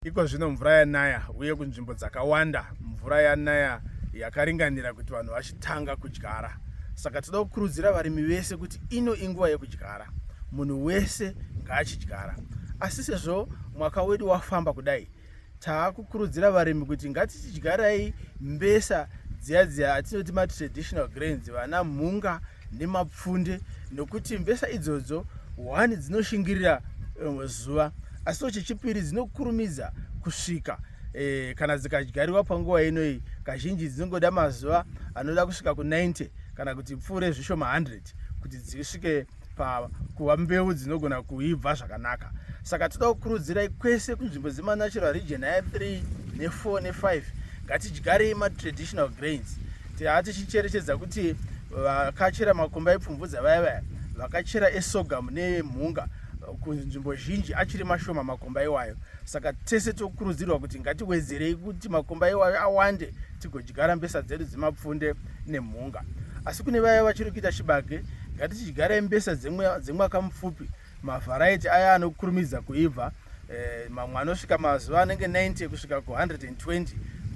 Iko zvino mvura yanaya uye kunzvimbo dzakawanda mvura yanaya yakaringanira kuti vanhu vachitanga kudyara. Saka toda kukurudzira varimi vese kuti ino inguva yekudyara, munhu wese ngaachidyara. Asi sezvo mwaka wedu wafamba kudai, taakukurudzira varimi kuti ngatichidyarai mbesa dziya dziya atinoti matraditional grains vana mhunga nemapfunde nokuti mbesa idzodzo hwani dzinoshingirira rimwe eh, zuva asiwo chechipiri dzinokurumidza kusvika e, kana dzikadyariwa panguva inoyi kazhinji dzinongoda mazuva anoda kusvika ku90 kana kuti pfuure zvishoma 100 kuti dzisvike pakuva mbeu dzinogona kuibva zvakanaka saka toda kukurudzirai kwese kunzvimbo dzemanatural region aya 3 ne4 ne5 ngatidyarei matraditional grains Haa tichicherechedza kuti vakachera makomba epfumvudza vaya vaya vakachera esogamu nemhunga kunzvimbo zhinji achiri mashoma makomba iwayo saka tese tokurudzirwa kuti ngatiwedzerei kuti makomba iwayo awande tigodyara mbesa dzedu dzemapfunde nemhunga asi kune vaya vachiri kuita chibage ngatichidyara mbesa dzemwaka mupfupi dze Mavharaiti aya anokurumidza kuibva eh, mamwe anosvika mazuva anenge 90 kusvika ku120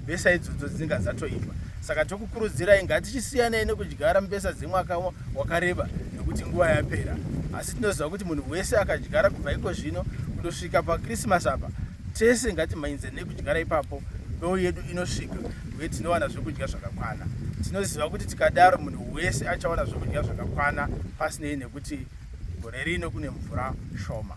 mbesa idzodzo dzinenge dzatoibva saka tokukurudzirai ngatichisiyanei nekudyara mbesa dzemwaka wakareba nekuti nguva yapera asi tinoziva kuti munhu wese akadyara kubva iko zvino kundosvika pakrisimasi apa Tese ngatimhanyidze nekudyara ipapo mbeu yedu inosvika uye tinowana zvekudya zvakakwana. Tinoziva kuti tikadaro munhu wese achawana zvekudya zvakakwana pasinei nekuti gore rino kune mvura shoma.